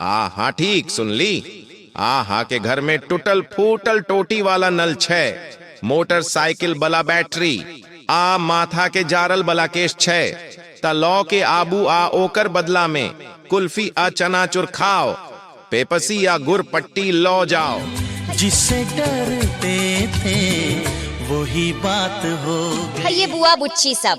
आ हाँ ठीक सुनली आ हाँ के घर में टूटल फूटल टोटी वाला नल छै मोटरसाइकिल बला बैटरी आ माथा के जारल बला केश छै त लौ के आबू आ ओकर बदला में कुल्फी आ चना चुर खाओ पेपसी आ गुर पट्टी लौ जाओ जिससे डरते थे वही बात हो गई है ये बुआ बुच्ची सब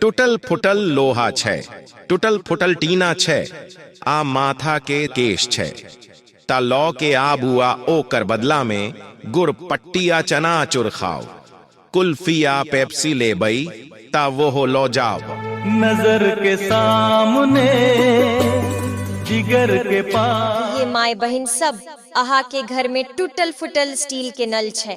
टूटल फुटल लोहा छै टूटल फुटल टीना छै आ माथा के केश छै ता लौ के आबू आ ओकर बदला में गुड़ पट्टी आ चना चुर खाओ कुल्फी आ पेप्सी ले बई ता वो हो लो जाओ नजर के सामने जिगर के पास ये माए बहन सब अहा के घर में टूटल फुटल स्टील के नल छै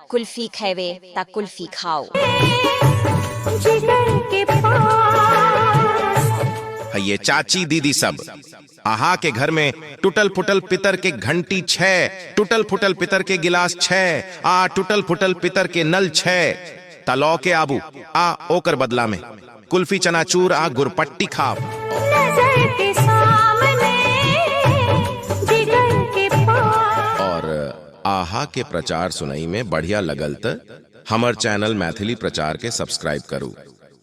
कुल्फी खैवे ता कुल्फी खाओ है ये चाची दीदी सब आहा के घर में टूटल फुटल पितर के घंटी छे टूटल फुटल पितर के गिलास छे आ टूटल फुटल पितर के नल छे तलौ के आबू आ ओकर बदला में कुल्फी चनाचूर आ गुरपट्टी खाओ और आहा के प्रचार सुनई में बढ़िया लगल त हमर चैनल मैथिली प्रचार के सब्सक्राइब करू।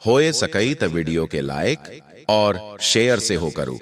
होए सकई त वीडियो के लाइक और शेयर सेहो करू।